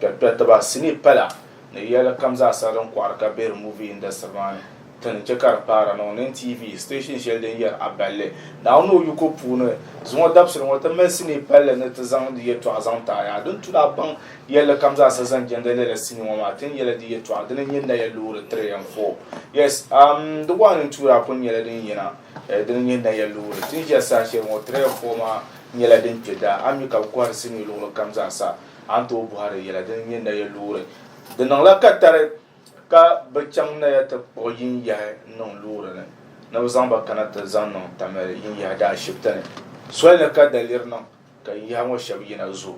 Kpɛkpɛtiba sinii pala ni yɛli kam zaasa din kɔɣiri ka be di movie industry maa ni ti ni che ka di paara niŋ NTV station shɛli din yɛri Aballi Naawuni ni o yiko puuni zuŋɔ dabisili ŋɔ ti mali sinii palli ni ti zaŋ di yɛtɔɣa zaŋ ti a yaa din tu ni a baŋ yɛlli kam zaasa zaŋ jɛndi lala sinii ŋɔ maa tin yɛla di yɛtɔɣa dini n-nyɛ Naya Loori three and four yes um di one and two daa kuli nyɛla din yina eh, dini n-nyɛ Naya Loori tin ʒiya saha shɛli ŋɔ three and four maa nyɛla din kpe daa a mi ka bi kɔhiri sinii luɣili kam zaasa A ni tooi bɔhiri yɛla din nyɛ naya loori? Di niŋla katari ka bɛ chaŋ naya ti kpuɣi yinyahi niŋ loori ni ni bɛ zaŋ ba kana ti zaŋ niŋ Tamale yinyahi daashibiti ni. Soli ni ka daliri niŋ ka yinyahi ŋɔ shɛba yina zo.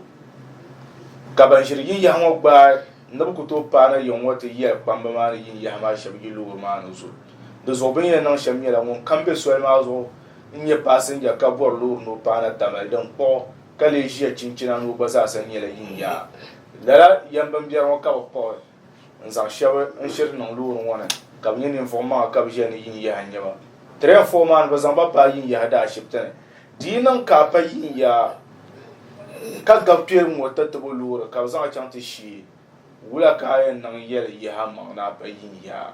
Ka ban ʒiri yinyahi ŋɔ gbaai ni bɛ ku tooi paai na yiŋ ŋɔ ti yɛli kpamba maa ni yinyahi maa shɛba yi loori maa ni zo. Di zuɣu bɛ ni yɛn niŋ shɛm nyɛla ŋun kam be soli maa zuɣu n-nyɛ paasinja ka bɔri loori ni o paai na Tamale din kpuɣi ka lee ʒiya chinchina ni o gba zaasa nyɛla yin yaa. Lala yɛm bimbɛri ŋɔ ka bɛ kpuɣi n-zaŋ shɛba n-shiri niŋ loori ŋɔ ni ka bɛ nyɛ ninvuɣ maŋa ka bɛ ʒiya ni yin yaha n-nyɛ ba. Train foo maa ni bɛ zaŋ ba paai yin yaha daa ashibiti ni. Di yi niŋ ka a pa yin yaa ka gabi kpɛriŋ ŋɔ tatabo loori ka bɛ zaŋ a chaŋ ti shee. Wula ka a yɛn niŋ yɛli yaha maŋ ni a pa yini yaha?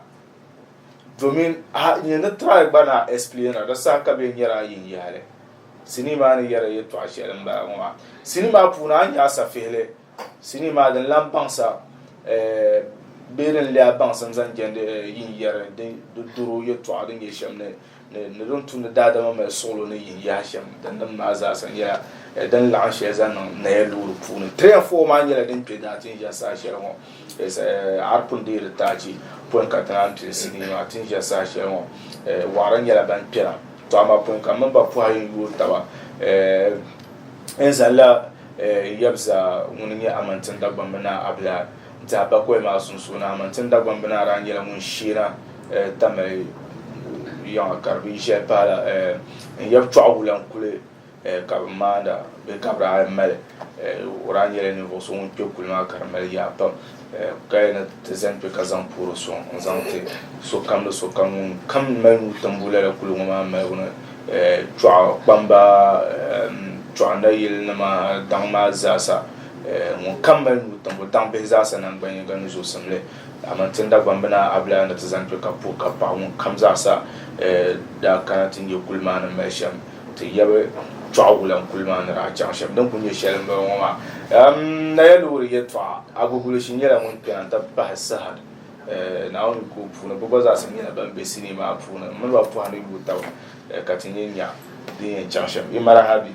Domin a nya ni try gba ni a explainira di saha ka bɛ nyɛri a yini yahili. Sinii maa ni yɛri yɛtɔɣ shɛli m-bala ŋɔ maa. Sinii maa puuni a ni nya a safihili sinii maa din lan baŋsa eh, bee din leei a baŋsim zaŋ jɛndi eh, yini yɛri din doro yɛtɔɣa din nyɛ shɛm ni ni din tumdi daadama mali suɣulo ni yin yaha shɛm din nim maa zaasa nyɛla eh, din laɣam shɛli zaŋ niŋ naya loori puuni tiri and four maa nyɛla din kpɛ daa tin ʒɛ saa shɛli ŋɔ eh, arpun deeri taachi pɔin ka ti naan pili sinii maa tin ʒɛ saa shɛli ŋɔ eh, waɣara nyɛla ban kpɛra to ama pɔin ka mini ba pɔha yin yooi taba n zalla yɛbza ŋuni nyɛ amantin dagbambi naa abilaa Tɛha bakɔi maa sunsuuni Amantin Dagbamb Binaa daa nyɛla ŋun sheena Tamale yiŋa ka di bi yi shɛli pahala n yab chɔɣu wulan kuli ka bi maanda bee ka bi daa mali. O daa nyɛla ninvuɣ so ŋun kpe kuli maa ka di mali yaa pam ka yɛn ni ti zani kpe ka zaŋ puhiri sɔŋ n zaŋ ti sokam ni sokam ŋun kam mali nuu timbu lala kuli ŋɔ maa maligu ni chɔɣu kpamba chɔɣu nayilinima daŋ maa zaasa. Ŋun kam mali nuu tim o daŋ bihi zaasa naŋgban yiŋga ni zuɣusimli, aman tin Dagbambina Abulaya ni ti zaŋ kpe ka puhi ka paɣi ŋun kam zaasa daa kana ti nya kuli maa ni mali shem ti yabi choɣi wulan kuli maa ni daa chaŋ shem din kuli nye sheli m bala ŋɔ maa. Naya loori yeltɔɣa Agugulishi nyela ŋun kpena n ti bahi Sahad Naomi koo puuni bɛ gba zaasa nyela ban be sinii maa puuni m mini ba pohi ni yuui taba ka ti nye nya din yen chaŋ shem. Imarahabi.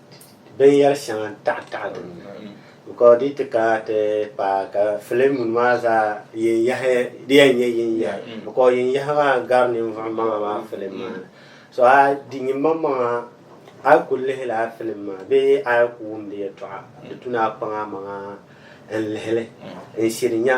binyɛr shɛŋa taɣitaɣi din ni, bikɔɔ di yi ti kana ti paai ka filimuni maa zaa yiŋyahi di yɛn nyɛ yiŋyahi, bikɔɔ yiŋyahi maa gari ninvuɣ maŋa maa filim maa ni. So a di nyimaŋmaŋa a yi ku lihila a filim maa bee a yi ku wum di yɛtɔɣa, di tuna a kpaŋa maŋa n-lihi li n-shiri nya.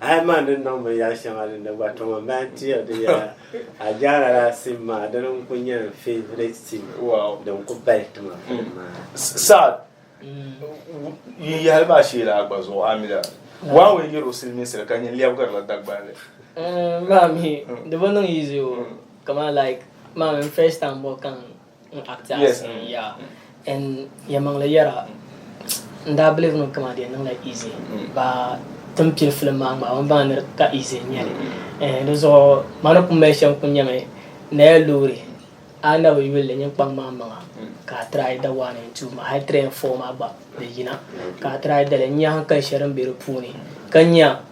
A yi maŋ di niŋ binyɛr shɛŋa din di gba, tɔma m-bahi n-ti ya di yɛla a jaara laa sim maa, dini n-kul nyɛ n favourite sim din kul bahi ti ma filim maa ha. Saad, Yi yɛhili maa shee laa gba zuɣu amila? Waa ŋun yɛr o silimiinsili ka nyin lɛbigiri la Dagbanli. Maa mi di bi niŋ easy o, kaman like maa mi n first time bɔ kaŋ. N acti as yes. Mm. yeah. And yɛmaŋli yɛra n daa believe no kama di niŋla easy mm. ba tin pili film maa ŋmaa ban baŋ niri ka easy n nyɛli mm. eh, di zuɣu ma ni ku mali shɛm ku nyɛmi na ya loori a na bi yulli nyin kpaŋ maa maŋa mm. ka a try da one and two ma hali three and four maa gba di yina ka a try dali n nya hankali shɛli din be di puuni ka nya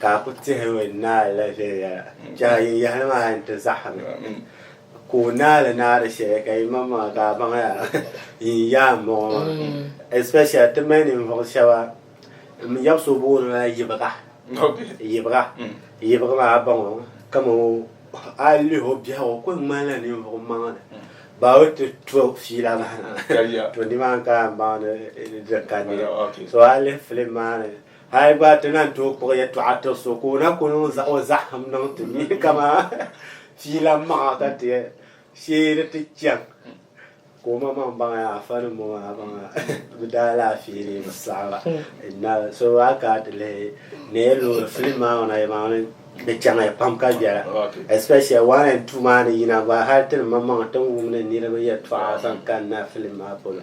Ka a ku tihimi naa la viɛnyɛla, chɛ a yin yɛhi li maa a ni ti zahim li. Ka o naa li naa di shɛli ka yimaŋmaŋa ka a baŋya yin yaa m-bɔŋɔ maa. Especially ti mali ninvuɣ shɛba m yab so booni ma la Yibiga. Yibiga Yibiga maa a baŋ o kaman o a yi lihi o biɛhigu o kul ŋmanila ninvuɣ maŋ li. Ba o ti to fiila maa na. To nimaani ka a ni baŋdi di ka neei. So a yi lihi filim maa ni Hali gba ti na tooi kpuɣi yɛtɔɣa tiri so ka o na ku niŋ o zahim niŋ ti ni kamani fiila maŋa ka ti shee ni ti chaŋ ka o maŋ maŋ baŋ yaa afa nim ŋɔ maa baŋ bi daa laafee ni bi saɣaba inna so a ka ti lihi ni yɛ loori filim maa ŋɔ na yɛ maŋ ni di chaŋ ya pam ka viɛla especially one and two maa ni yina gba hali ti ni maŋ maŋ ti ni wum ni niriba yɛtɔɣa zaŋ kanna filim maa polo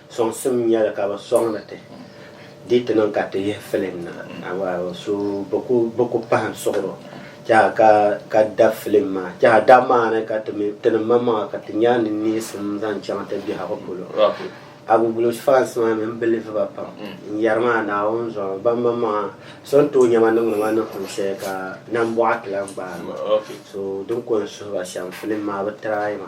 Sɔŋsim nya li ka bɛ sɔŋdi ti di ti niŋ ka ti yihi filim na. So bɛ ku pahim suɣiro tɛha ka dab filim maa. Tɛha dab maa ni ka tinim maŋmaŋa ka ti nya ni neesim zaŋ chaŋ ti biɛhigu polo. Agugulos fans maa mi m bilivi ba pam n yɛri maa Naawuni zuɣu ban maŋmaŋa so n-tooi nya ma niŋdi ma ni kum shɛli ka nambɔɣu ti lan gbaai ma. So din ko n suhi ba shɛm filim maa bɛ try ma.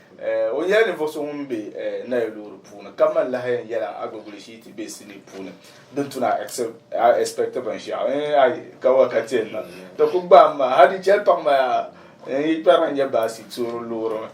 O nyɛla ninvuɣ so ŋun be nayo loori puuni ka mali lahayan yɛla agbaguli shii ti be sinii puuni din tu ni a expect binshɛɣu eh, a yi ka wa ka ti na ti ku gbaam maa ha di chɛli paɣ maya n yi kpɛra n nyɛ baasi toori loori mi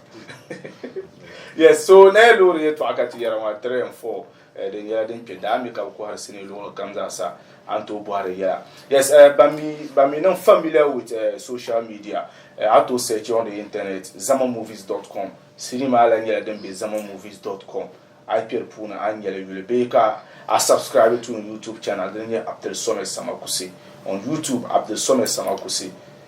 yes so nayo loori yɛtɔɣa ka ti yɛra ŋɔ a 3 and 4 Eh, di nyɛla din kpe daa mi ka bi kɔhiri sinii luɣili kam zaa sa, a ni tooi bɔhiri yɛla. Yes, eh, ban mi, ban mi niŋ familiar with eh, social media, eh, a tooi search on the internet, zamamovies.com, sinii maa lahi nyɛla din be zamamovies.com, a yi kpe di puuni a ni nyɛli yuli, bee ka a subscribe to n YouTube channel dini nyɛ Abdulsomad Samakusi, on YouTube, Abdulsomad Samakusi.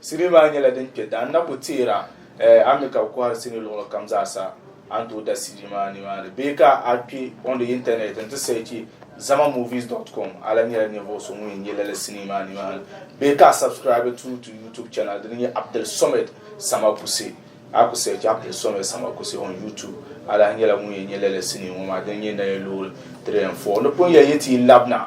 Sinii maa nyɛla din kpɛ daa na ku teera a mi ka bi kɔhiri sinii luɣili kam zaa sa a ni tooi da sinii maa ni maa ni bee ka a kpɛ on the internet n ti searchi zamamovies dot com a lahi nyɛla ninvuɣu so ŋun yɛn nyɛ lala sinii maa ni maa ni bee ka a subscribe through to YouTube channel din nyɛ Abdulsomad Samakuse a ku searchi Abdulsomad Samakuse on YouTube a lahi nyɛla ŋun yɛn nyɛ lala sinii ŋɔ maa din nyɛ Naye Loori 3 and 4 ni pun yɛn yi ti yi labina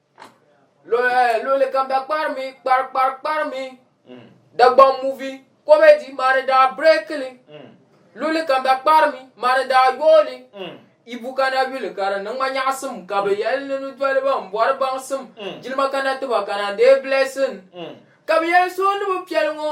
luɣuli kam da kparimi kpari kpari kparimi mm. dagbaŋ muvi komedi mani daa brekili mm. luɣuli kam da kparimi mani daa yooli mm. ibu kana yuli ka di niŋma nyaɣasim ka bi yɛli ni ni doliba n bɔri baŋsim jilima kana tiba kana dee blessing ka bi yɛli so ni bi piɛli ŋɔ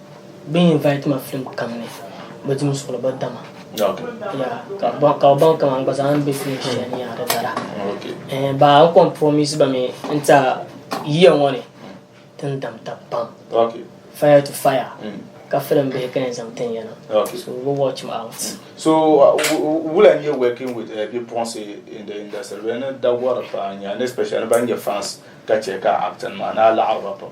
Bɛ invite ma film kam ni bɛ di suɣili bɛ dama. Okay. Yeah, ka ba ka ba kam an gba zaa an be film shɛli ni yaa di dara. Okay. Eh, ba an kom promise ba mi n ta yiya ŋɔ ni tin dam tab pam. Okay. Fire to fire. Mm. Ka film be ka yɛn zaŋ tin yana. Okay. So we watch me out. Mm. So uh, will I be working with uh, bipuɣinsi in the industry? Bɛ ni da gɔri pa nya, especially ban nyɛ fans ka chɛ ka acting maa ni a laɣiri ba pam.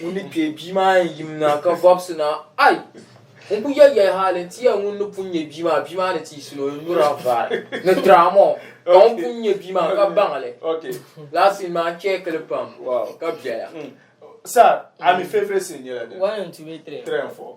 Ŋun ni kpee bia maa yɛn yim na ka vɔbisi na, Ai! N ku yɛl ya hali nti yɛli ŋun ni pun nya bia maa, bia maa ni tiisi ni o ni nyuri avara ni drama o. Ka ŋun pun nya bia maa ka baŋ li. Lala sin maa chɛkili pam ka biɛla. Sir, a mi favourite sin nyɛla dini? One and two, three and four.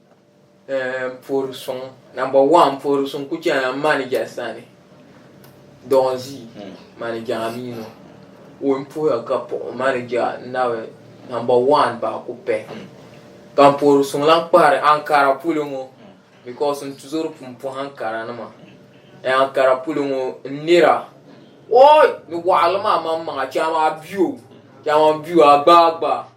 Eh, n poor suŋ. Number one, poor suŋ ku chɛna n ma ni jɛli sani. Dɔɣi n zi hmm. ma ni jɛŋa mi no. O n poya ka puɣi ma ni jɛɣa n na bi number one ba ku pɛ. Hmm. Ka n poor suŋ lan kpahiri Ankara puli ŋɔ hmm. because n tuzori pun puhi Ankara nima. Eh, Ankara puli ŋɔ n nira. Oi, ni waɣili maa man maŋa chɛma biyo. Chɛma biyo a gbaai gbaai.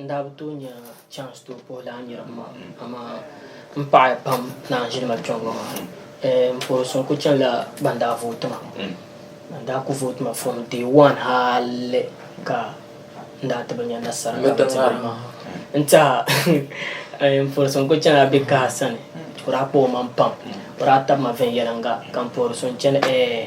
N daa bi tooi nya chance tooi puhi laa niriba maa amaa m paɣiya pam ni a ʒini ma kpe ŋ-ŋɔ maa. Ɛɛm pɔro so n-kul chanila ban daa vooti ma. Ban daa kul vooti ma from day one hali ka n daa ti bi nya nasara ka bɛ ti bini maa. N teha ɛɛm pɔro so n-kul chanila bɛ kaha sani. O daa kpuɣi o maŋ pam. O daa tabi ma viɛnyɛliŋga ka m pɔro so n-chani ɛɛh.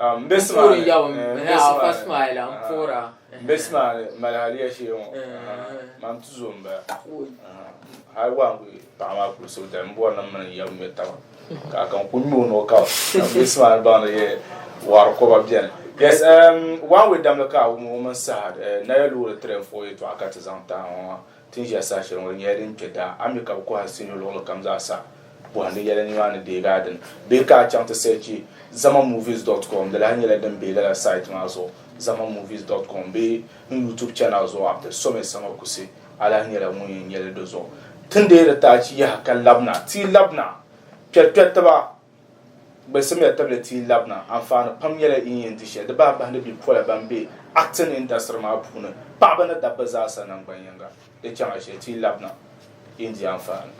Um, bɛ simaali mali haliya shee ŋɔ man ti zo m-bala hali waa n-kuli paɣa maa kuli so dali m-bɔri ni mini yɛm ŋmɛ taba ka kan ku ŋmɛ o noo ka bɛ simaali baŋdi yɛ waari kɔba bɛni yes um, waan wɛ damli ka a wum o mini saha eh, naya loori tiri n-fo yɛtɔɣa ka ti zaŋ tahi ŋɔ Tin ʒiya saha shɛli ŋɔ, di nyɛla din kpe daa. A mi ka bɛ kɔhi asinii luɣili kam zaa sa bɔhim din yɛli nimaani deegi a dini. Bee ka a chaŋ ti sɛchi zamamovies dot com, di lahi nyɛla din be lala site maa zuɣu, zamamovies dot com, bee n YouTube channel zuɣu, Abdul Someh Sama Kusi, a lahi nyɛla ŋun yɛn nyɛli di zuɣu. Ti deeri ti achi yaha ka labina, ti yi labina, kpɛrikpɛritiba, Gbalsimiya tabili ti yi labina, anfaani pam nyɛla yi ni yɛn di shɛli. Di bahi bahindi bipola ban be acting industry maa puuni, paɣaba ni dabba zaa sa nangban yiŋga. Di chaŋla shɛli ti yi labina, yi ni di anfaani.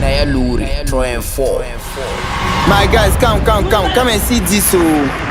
Naya loori 3 and 4. My guys come come come come and see this oh.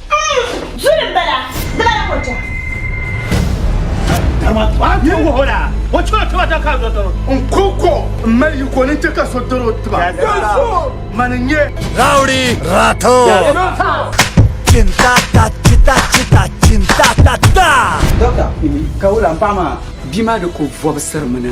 Zuli m-bala, di bala kɔcha. N-kɔŋko m-mali yi ko ni n-chɛ ka so dɔr o tiba. Mani n-nyɛ. Rowdy Rato. Chintata chita chita chintata ta. Doctor, ka o lan paɣa maa? Bia maa di ko vɔbisiri mi ni.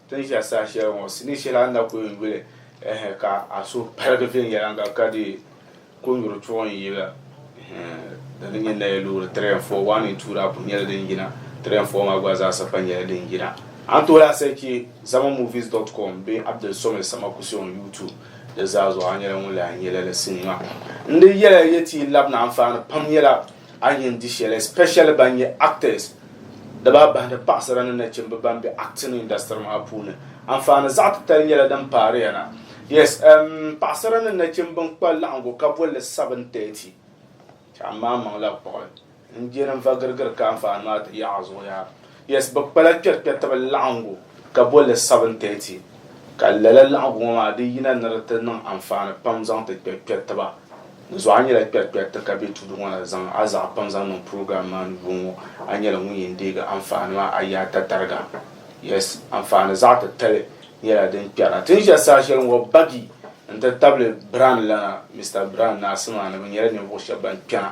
Tin ʒiya saha shɛli ŋɔ, sinii shɛli a ni na ku yuli yuli ehe ka a suhu paligi viɛnyɛliŋga ka di ku nyuri chuɣu n yi la ehe di ni nyɛ naya loori three and four, one and two daa ku nyɛla din yina, three and four maa gba zaa sa pa nyɛla din yina. A ni tooi lahi searchi zamamovies dot com bee Abdul Somid Samakusi on YouTube di zaa zuɣu a nyɛla ŋun lahi nya lala sinii maa. N di yɛla yɛ ti yi labina anfaani pam nyɛla. A ni yɛn di shɛli especially ban nyɛ actors di baa bahi ni paɣasara ni nachimba ban be acting industry maa puuni anfaani zaɣ titali nyɛla din paariya na yes um, paɣasara ni nachimba n kpa laɣingu ka bolli 7:30 ka amaa maŋla kpuɣi n je ni n va girigiri ka anfaani maa ti yaɣi zuɣu yaa Yes, bɛ kpala kpɛrikpɛritiba laɣiŋgu ka boli li seven thirty, ka lala laɣiŋgu ŋɔ maa di yina ni di ti niŋ anfaani pam zaŋ ti kpɛri kpɛritiba. Di zuɣu a nyɛla kpɛrikpɛriti ka be tuudu ŋɔ na zaŋ a zaɣa pam zaŋ niŋ program maa ni yuŋ ŋɔ, a nyɛla ŋun yen deegi anfaani maa a yaa ta tariga. Yes, anfaani zaɣa titali nyɛla din kpɛra. Ti ni ʒɛ saha sheli ŋɔ Baggy n ti tabili Brand lana Mister Brand ni Asimaani bɛ nyɛla ninvuɣu sheba ban kpɛna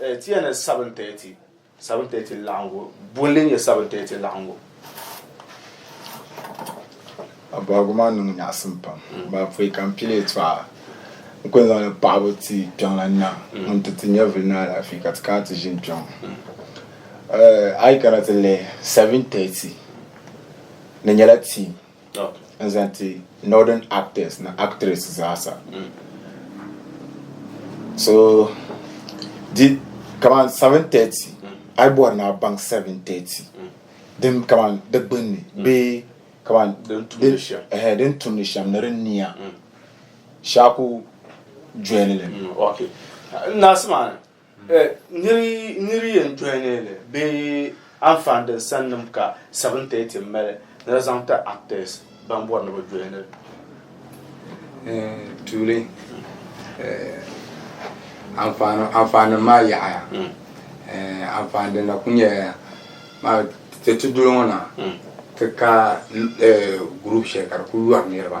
Eh, ti ya ni seven thirty. Seven thirty laɣingu. Bolli nyɛ seven thirty laɣingu. Abaagu maa niŋ nyaɣisim pam. Mm. Maa pɔi ka n pili yi tɔɣa. N kuli zaŋ ni paɣibu ti kpiɔŋlan na mm. ŋun ti ti nyɛvili ni alaafee ka ti kana ti ʒini kpiɔŋ. Mm. Eh, a yi kana ti lihi seven thirty ni nyɛla tii. n zaŋ ti northern actors ni actress zaasa so di kaman 730 ai bɔri ni a baŋ 730 din kaman di gbunni bee kaman din tumdi shɛm ni din niya shaaku jɔli li Niri niri yɛn dɔya ni li bee anfaani din sannim ka 7:30 mali ni di zaŋ ti actors ban bɔri ni bi dɔya ni tuuli anfaani nim maa yaɣaya anfaani din na ku nyɛla maa ti ti duli ŋɔ na ti ka group shɛli ka di ku yɔri niriba.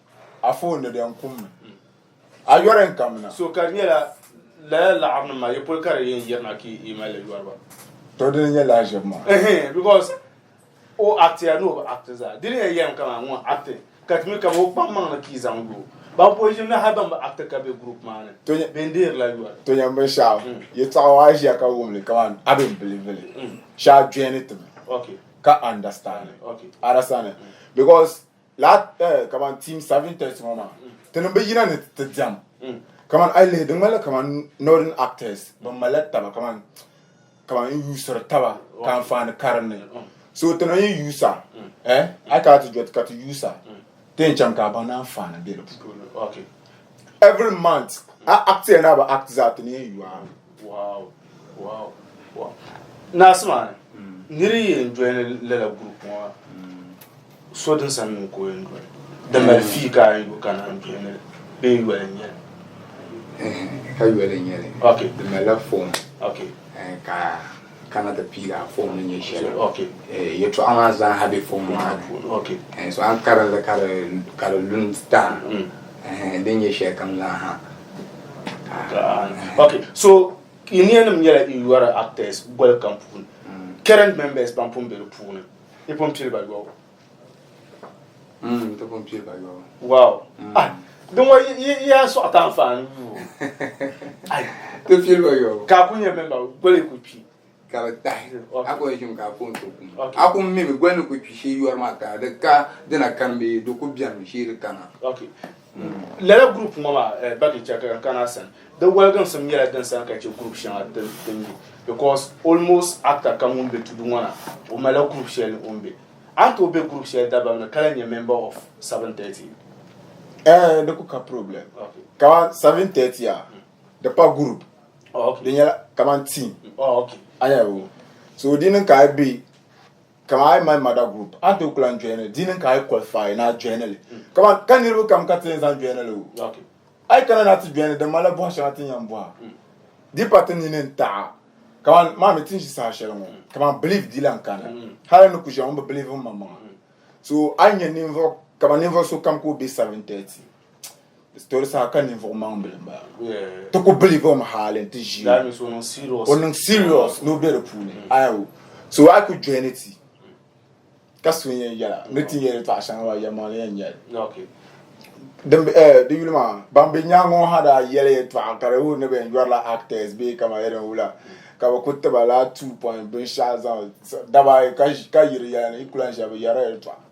A fo ni den kum mi. A yɔri n kamina. So ka di nyɛla laya laɣiri nim maa ye poli ka di yɛn yirina ka i mali li yɔriba. To dini nyɛ laa ʒibu maa. Ɛhɛn because o acti ya ni o bi acti zaa dini yɛn yɛm kama ŋun acti ka ti mi kama o kpam maŋ ni ka i zaŋ yo. Ban poli ʒini ni hali ban bi acti ka be group maa ni To nyɛ- ben deeri la yɔri. To nyɛ binshɛɣu Mm. yi taɣi a ʒiya ka wum li kaman a bi bilivi li Mm. shɛ a joini ti mi Okay. ka understand Okay. arasani because laa eh, kamani team serving test ŋɔ maa ti niŋ bi yina ni ti diɛm kamani ayi lihi di ŋmanila kamani northern actors ban malila taba kamani kamani n yuusiri taba ka anfaani karinli so ti na yi yuusa eh ayi kana ti jɔti ka ti yuusa ti yɛn chaŋ ka a baŋ ni anfaani bɛ di puuni every month a act ya ni a bi act zaa ti ni yɛn yuui naɣisi maa ni niri yɛn joini lala gurupu ŋɔ maa so din sani mi ka o yɛn joini di mali fii ka a yuli kana n joini li bee yoli n nyɛli ka yoli n nyɛli di malila fom ka Kana ti piigi a fom ni nyɛ shɛli. Eh, yɛtɔɣa maa zaaha be fom maa ni. Eh, so a ni karim li ka di, ka di lu n-ti taha. Mm. Eh, din nyɛ shɛli kam zaaha. Ok, so yi niyanim nyɛla yi yɔri actors boli kam puuni. Mm. Current members pam pun be di puuni. Yi pun pili ba yɔbu. Mm, ti pun piɛ ka yɔ. Wow. Mm. Ah, din wa ya sɔɣi ta anfaani duu. Ai. Ti piɛ ba yɔ. Ka ku nyɛ memba, goli ku kpi. Ka bi tahi. A ku yɛn ka a ku n so kum. A ku mi mi goli ni ku kpi shee yɔri maa ka di ka dina kani bee di ku bɛni mi shee di kana. Okay. Lala group ŋɔ maa eh, back in chaka kana san di waliginsim nyɛla din sani ka chɛ group shɛŋa ti ti mi because almost actor kam ŋun be tudu ŋɔ na o malila group shɛli o be a ni tooi be group shɛli dabam ni ka lahi nyɛ member of 730 Eh, di ku ka problem okay. kama 730 a hmm. di pa group oh, okay. di nyɛla kaman team oh, okay. a nyɛla so di niŋ ka a be Kama ayi mali mada group an ti kula n joinili di niŋ ka ayi qualify na joinili kama ka niriba kam ka ti yɛn zaŋ joinili wu ayi kana na ti joinili din mala bɔha shɛŋa ti ni yɛn bɔha di pa ti nini n taɣa kama maa mi ti n ʒi saha shɛli ŋɔ kama believe di lan kana hali ni ku ʒiya ŋun bi believe n maŋmaŋa so ayi nyɛ ninvuɣu kama ninvuɣu so kam ka o bɛ 730 Storisa ka ninvuɣu maŋ bili n bala ti ku biliva o mi haali n ti ʒi o niŋ serious ni o bɛ di puuni ayo so a ku join ti ka so n yɛn yɛla ni ti yɛli tɔɣa shɛŋa wa yɛma ni yɛn yɛli di yuli maa ban bɛ nyaangi ŋɔ ha daa yɛli yɛtɔɣa ka di wuhi ni bɛ yɔrila actors bee kama yɛli n wula ka bi ku tiba la two point binshaɣu zaŋ daba ka yiri yɛla ni i kula n ʒiya bi yɛrila yɛltɔɣa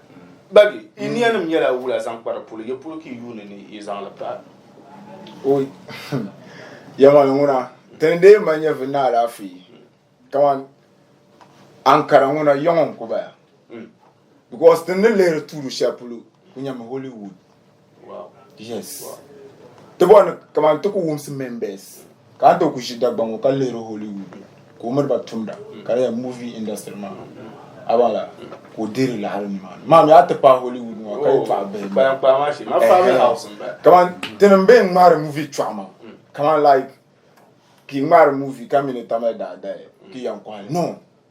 Bagi, yi mm. niyanim nyɛla wula zaŋ kpari polo, yi polo ka yi yuuni ni yi zaŋ li pahi. O yɛmali ŋuna, dini dee ma nyɛ vi na alaafee, kaman Ankara ŋuna yɔŋɔ n-ku baya. Mm. Because dini ni lihiri tuuli shɛli polo ku nyɛmi Hollywood. Yes. Ti bɔri ni kamani ti ku wumsi members ka a ti ku ʒi Dagbaŋ ŋɔ ka lihiri Hollywood la ka o miri ba tumda ka di movie industry maa a baŋ la ka o dihiri lahiri nimaani maa mi a ti pahi Hollywood ŋɔ ka yi pahi bihi kamani ti ni bɛ ŋmahiri movie chɔɣu maa kamani like ki ŋmahiri movie ka mi ni tamya daadaya ki yan kɔhili no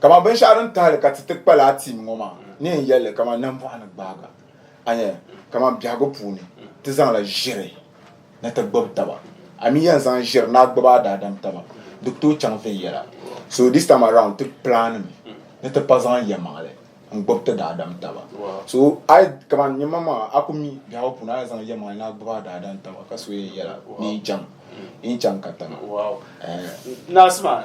Kaman binshɛɣu din tahili ka ti ti kpa laa tiim ŋɔ maa, ni yɛn yɛli li kaman nambɔɣu ni gbaaga, anya, kaman biɛhigu puuni ti zaŋ la ʒiri ni ti gbibi taba, a mi yɛn zaŋ ʒiri ni a gbibi a daadam taba, di ku tooi chaŋ viɛnyɛla. So this time around ti pilaanimi ni ti pa zaŋ yɛlimaŋli n-gbibi ti daadam taba. So a yi, kaman nyinimaŋmaŋa a ku mi biɛhigu puuni a yɛn zaŋ yɛlimaŋli ni a gbibi a daadam taba ka so yɛn yɛla ni yi chaŋ, yi ni chaŋ ka tana. Eh. Naasima,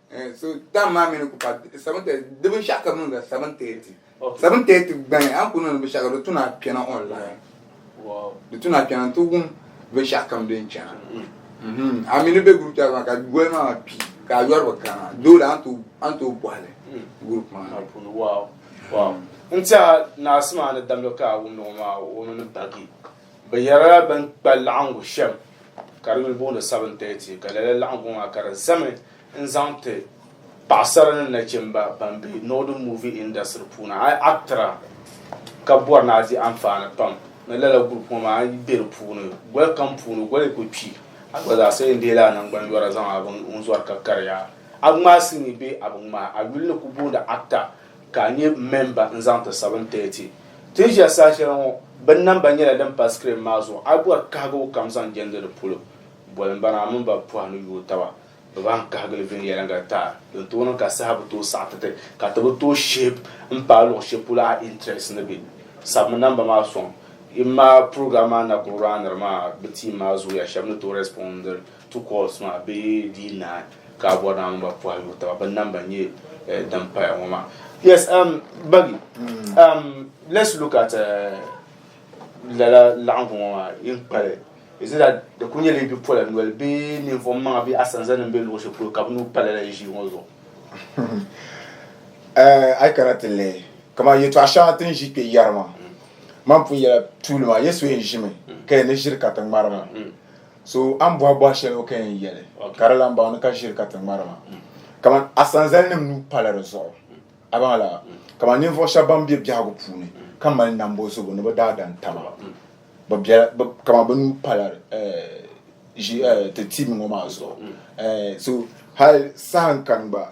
so tam maa mini ku pa seven thirty di binshaɣu ka bi niŋda seven thirty seven thirty gbani an ku niŋdi binshaɣu ka di tuna kpɛna online di tuna kpɛna n ti wum binshaɣu kam din chɛna mhm. a mini bɛ group chat maa ka goli maa kpi ka a yɔri bi kana dole an tooi bɔhili mm. group maa n tiɛha naasi maa ni damdi ka a wumdi ŋɔ maa o mini bagi Bɛ yɛrila bɛn kpa laɣiŋgu shɛm ka di yuli booni 7:30, ka lala laɣiŋgu maa ka di zami n-zaŋ ti paɣisara ni nachimba ban be Northern Movie Industry puuni. A yi actra ka bɔri ni a di anfaani pam ni lala group ŋɔ maa, a yi be di puuni, goli kam puuni goli yi ku kpi, a gba zaa sa yɛn deei la a naŋgban yɔra zaŋ a biŋ n-zɔri ka kariya. A ŋmaai silimiin bee a bi ŋmaai, a yuli ni ku booni actor ka a nyɛ mɛmba n-zaŋ ti sabin tɛɛti. Ti ni ʒiya saha shɛli ŋɔ, bɛ namba nyɛla din pa sikirin maa zuɣu. A yi bɔri kahigibu kam zaŋ jɛndi di polo, boli m-bana a mini ba pɔha ni yooi taba bɛ bahin kahigili viɛnyɛliŋga taai din tooi niŋ ka saha bi tooi saɣi ti ti ka ti bi tooi shihib m-paai luɣ shɛli polo a intirɛsi ni be. Sabimi namba maa sɔŋ. Yi maa, purogiram maa na kuli raaniri mi a bi tiim maa zooya shɛba ni tooi rɛspɔndiri. Two calls maa bee dii nahi ka a bɔri ni a mini ba puhi yuhi taba bɛ namba nyɛ eh, din paya ŋɔ maa. Yes, um, Bagi, um, let's look at uh, lala laɣingu ŋɔ maa yin kpali. Is it that di kuli nyɛla yi bi pola noli bee ninvuɣu maŋa bee asanzanim bee luɣu shɛli polo ka bɛ nuu pa lala yi ʒii ŋɔ zuɣu? Eh, a yi kana ti lihi kamani yɛtɔɣa shɛŋa ti ni ʒi kpe yɛri maa, man pun yɛla tuuli maa Yesu yɛn ʒimi ka yɛn ni ʒiri ka ti ŋmari ma. So a ni bɔhi bɔhi shɛli o ka yɛn yɛli ka di lan baŋ ni ka ʒiri ka ti ŋmari ma. Kaman a sanzalinim nuu pala di zuɣu. A baŋ la? Kaman ninvuɣ shɛb bɛn be biɛhigu puuni ka mali nambo zubu ni bɛ daadam taba, bɛ bela, bɛ, kaman bɛ nuu pala ʒi, ti tibi ŋɔ maa zuɣu. So hal saha n-kani gba.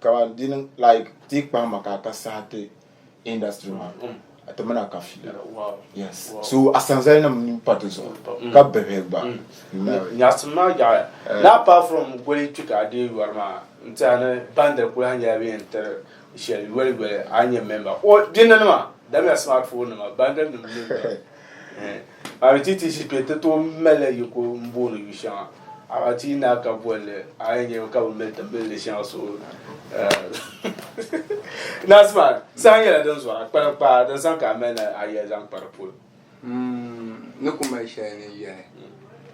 Kaman di niŋ like ti kpahi ma ka ka saha ti industry ma mm. a ti mina ka fiya yes so a sanzali nim ni pa ti zuɣu mm. ka bihi gba mm. nyaɣasim maa yaɣaya eh. na apart from goli kpi ka a dee yɔri maa n tiɛha ni bandiri kuli ha nyɛla bɛ yɛn tiri shɛli yoli yoli a nyɛ member o dinni nima damiya smartphone nima bandiri nim Arititiisi kpe ti tooi malila yiko m-booni yu shɛŋa Aratii naa ka bolli a yi nyɛ ka bi mali ti mali di shɛŋa so Naasima saha nyɛla din zɔra kpana kpaa din sani ka a mali ni a yɛli zaŋ kpa di polo. Ni ku mali shɛli ni yɛli.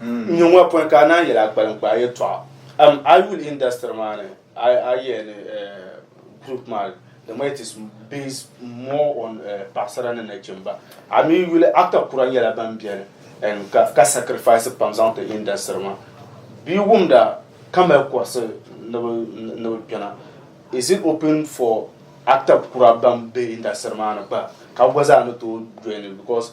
n nyɛ ŋɔ pɔi ka a naan yɛla kpalim kpaa yɛtɔɣa um, a yi yuli industry maa ni a yɛ ni eh, group maa the way it is based more on eh, paɣasara ni nachimba a mi yuli actor kura nyɛla ban biɛni and ka, ka sacrifice pam zaŋ ti industry maa bi wumda ka mali kɔrisi ni bi kpɛna is it open for actor kura ban be industry maa ni gba ka gba zaa ni tooi join because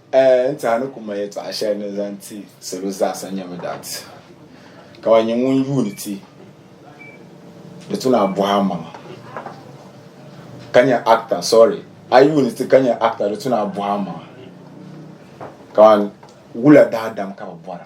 N tiɛha ni ku ma yɛtɔɣa shɛli ni zaŋ ti salo zaasa nyɛ mi dat, ka wa nyɛ ŋun yuuni ti di tu naa bɔhi a maŋa ka nyɛ actor sorry a yuuni ti ka nyɛ actor di tu naa bɔhi a maŋa ka wula daadam ka bi bɔra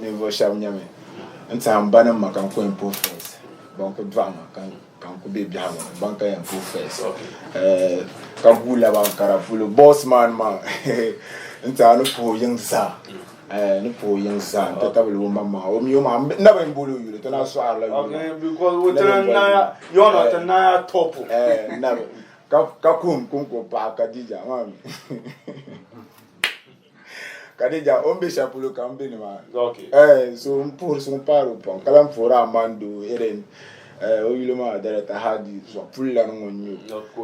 Ninvuɣ shɛb nyami n-tɛha m ba ni m ma ka n ku yɛn puhi fees. Ban ku dɔɣi ma ka n ku be biɛhigu ni ban ka yɛn puhi fees. Ka guui laba n kara polo boos man maa n-tɛha ni puhi o yiŋ zaa. Ni puhi o yiŋ zaa n-ti tabili o maŋmaŋa. O mi o maŋa n na bi yɛn booli o yuli ti na sɔhirila yuli maa. Kadija o ni bɛ shɛli polo ka n bɛ nimaani okay. eh, so n puhiri so n paari o pam ka lahi puhiri Aman doo Helen eh, o yuli maa director Hadi zuɣu pulilana ŋɔ n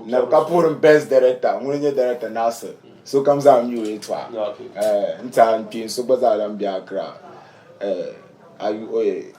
nyɛ o ka puhiri best director ŋuni nyɛ director Nasir so kam zaa mi o yɛltɔɣa eh, n tiɛha n kpeen so gba zaa lahi bɛ Accra eh, ayu oye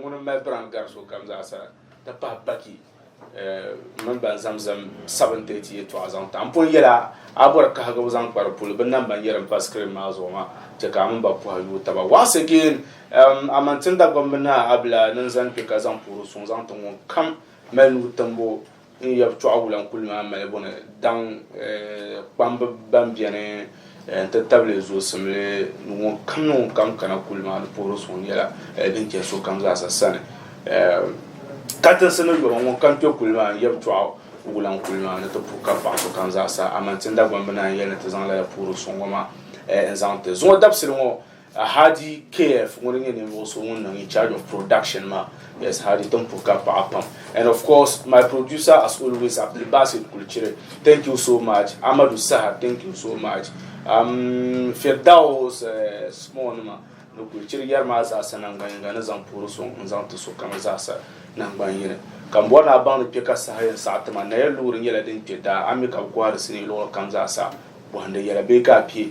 Ŋuni m-mali biraam gari sokam zaasa, ti pahi baki mini ban zaŋm zim sabin tiriti yɛtɔɣa zaŋ taɣi m pun yɛl a, a ni bɔri kahigibu zaŋ kpari puli bɛ nam ban yɛri m pa sikirin maa zuɣu maa, chɛ ka a mini ba pɔhɛ yooi taba. Once again, a maŋ tim Dagbamb ni a abila ni n zani kpe ka zaŋ puhiri suŋ zaŋ ti ŋun kam mali nuu timbu N yab tɔɣu wula n-kuli maa malibu ni daŋ kpamba ban beni nti tabili zuɣusimli ni ŋunkam ni ŋunkam kana kuli maa ni puhiri suŋ nyɛla din chɛ sokam zaasa sani. Katinsi ni yɔbu ŋunkam kpe kuli maa n yab tɔɣu wula n-kuli maa ni ti puhi ka paɣ sokam zaasa, aman ti Ndagbaŋ bi naan yɛli ni ti zaŋ lala puhiri suŋ ŋɔ maa n-zaŋ ti zuŋɔ dabisili ŋɔ. Hadi KF ŋuni nyɛ ninvuɣu so ŋun niŋ in charge of production maa yes Hadi tin puhi ka paɣa pam and of course my producer as always Abdulbasit Kulichiri thank you so much Amadu Saha thank you so much um, Firdaus uh, eh, small nima ni Kulichiri yɛri maa zaasa nangban yinga ni zaŋ puhiri so n zaŋ ti so kama zaasa nangban yini ka m bɔri ni a baŋdi kpe ka saha yɛn saɣa tima naya loori nyɛla din kpe daa ami ka gɔhiri sini luɣuli kam zaasa bɔhindi yɛla bee ka a pie